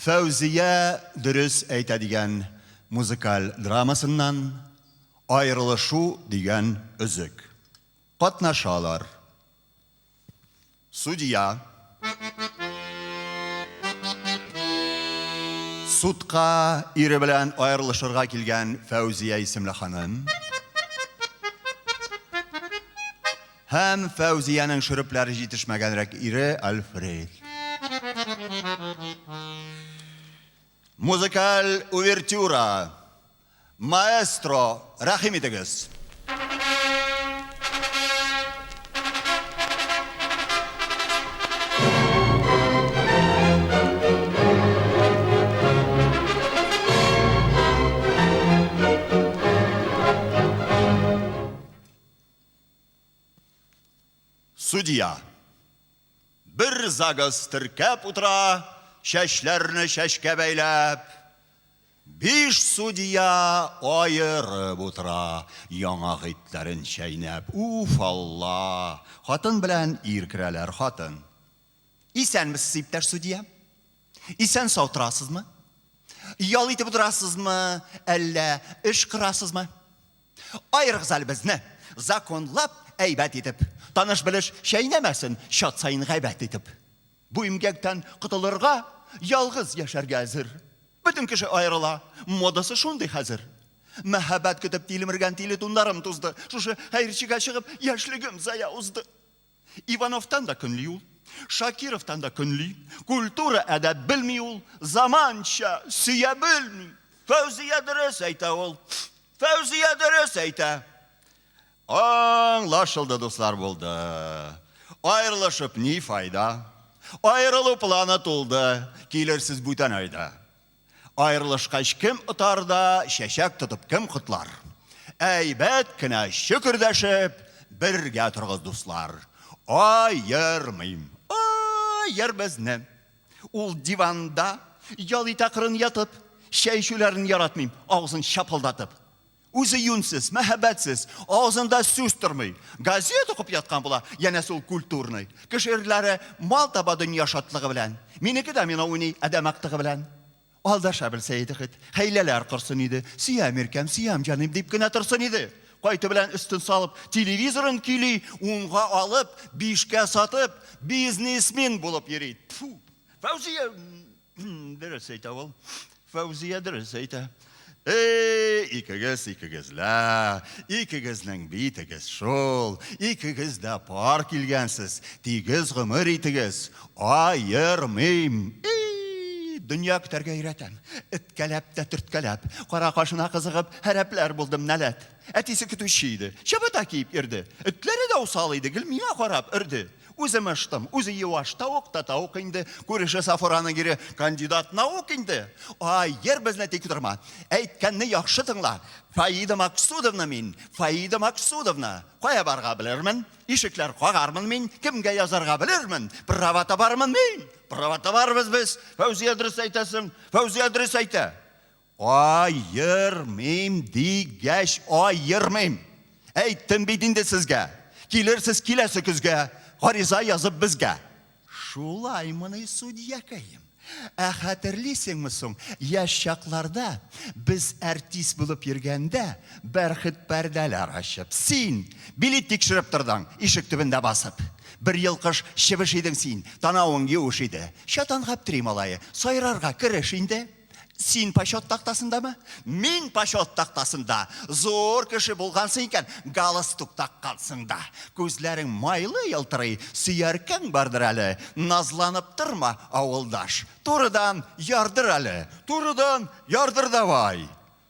Фәүзия дөрес әйтә дигән музыкаль драмасыннан Аерылышу дигән өзек. Катнашалар. Судья. Судка ире белән аерылышырга килгән Фәүзия исемле ханым. Һәм Фәүзиянең шөрепләре җитешмәгәнрәк ире Альфред. Музыкаль увертюра. Маэстро, рәхим итегез. Судья. Бер загыз теркәп утыра, чәчләрне чәчкә бәйләп. Биш судья аерып утыра, яңа гыйтләрен чәйнәп. Уф, Алла! Хатын белән ир керәләр, хатын. Исәнмесез, иптәш судья. Исән сау торасызмы? Ял итеп утырасызмы, әллә эш кырасызмы? Аерыгыз әле безне, законлап, әйбәт итеп. Таныш белеш чәйнәмәсен, чат саен гайбәт итеп. Бу имгәктән котылырга, ялгыз яшәргә әзер. Бөтен кеше аерыла, модасы шундый хәзер. Мәһабәт көтеп тилмергән тиле тундарым тузды. Шушы хәерчегә чыгып, яшьлегем зая узды. Ивановтан да көнли ул, Шакировтан да көнли. Культура әдәп белми ул, заманча, сөя белми. Фәүзия дөрес әйтә ул. Фәүзия дөрес әйтә. Аңлашылды, дуслар булды. Аерылышып ни файда? Аерылу планы тулды. Килерсез бүтән айда. Аерылышкач кем отар да, чәчәк тотып кем котлар? Әйбәт кенә чөкердәшеп, бергә торгыз, дуслар. Аермыйм. Аер безне. Ул диванда ял итә кырын ятып, чәй эчүләрен яратмыйм, авызын чапылдатып. Үзе юньсез, мәһәбәтсез, авызында сүз тормый. Газет укып яткан була, янәсе ул культурный. Кеше ирләре мал таба дөнья шатлыгы белән. Минеке домино уйный адәм актыгы белән. Алдаша белсә иде хет, хәйләләр корсын иде. Сөям иркәм, сөям җаным дип кенә торсын иде. Кайты белән өстен салып, телевизорын көйли, унга алып, бишкә сатып, бизнесмен булып йөри. Тфу! Фәүзия! Дөрес әйтә ул. Фәүзия дөрес әйтә. Эй, икегез, икегез лә, икегезнең битегез шул, икегез дә пар килгәнсез, тигез гомер итегез, аермыйм. Эй, дөнья көтәргә өйрәтәм. Эткәләп тә төрткәләп, кара кашына кызыгып, һәрәпләр булдым нәләт. Әтисе көтүче иде, чабата киеп йөрде. Этләре дә усал иде, гел миңа карап өрде. Үзе мыштым, үзе юаш, тавык та тавык инде, күреше Сафураның ире кандидат наук инде. Ай, йыр безне тик торма. Әйткәнне яхшы тыңла. Фаида Максудовна мин, Фаида Максудовна. Кая барга белермен? Ишекләр кагармын мин, кемгә язарга белермен? Права табармын мин. Права табарбыз без. Фәүзия дөрес әйтәсең. Фәүзия дөрес әйтә. Аермыйм дигәч, аермыйм. Әйттем бит инде сезгә. Килерсез киләсе көзгә, гариза язып безгә. Шулаймыни, судьякаем? Ә хәтерлисеңме соң, яшь чакларда, без әртист булып йөргәндә, бәрхет пәрдәләр ачып, син билет тикшереп тордың, ишек төбендә басып. Бер елкыш чебеш идең син, танавың юеш иде. Чатан Гаптри малае, сайрарга кереш инде. Син почет тактасындамы? Мин почет тактасында. Зур кеше булгансың икән, галстук таккансың да. Күзләрең майлы елтырый, сөяркәң бардыр әле. Назланып торма, авылдаш. Турыдан ярдыр әле. Турыдан ярдыр давай.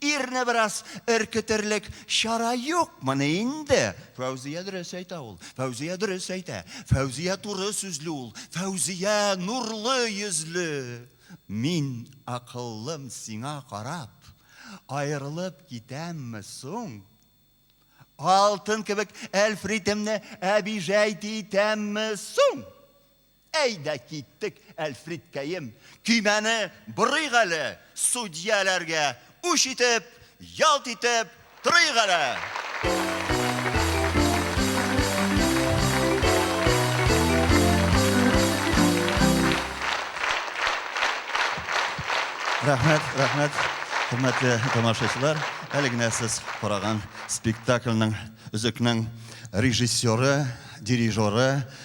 Ирне бераз өркетерлек чара юкмыни инде? Фәүзия дөрес әйтә ул. Фәүзия дөрес әйтә. Фәүзия туры сүзле ул. Фәүзия нурлы йөзле. Мин акыллым сиңа карап, аерылып китәмме соң? Алтын кебек әлфритемне әбижәйт итәмме соң? Әйдә киттек, Әлфридкәем, көймәне борыйк әле, судьяләргә үч итеп, ялт итеп торыйк әле! Рәхмәт, рәхмәт, хөрмәтле тамашачылар. Әле генә сез караган спектакльнең, өзекнең режиссеры, дирижеры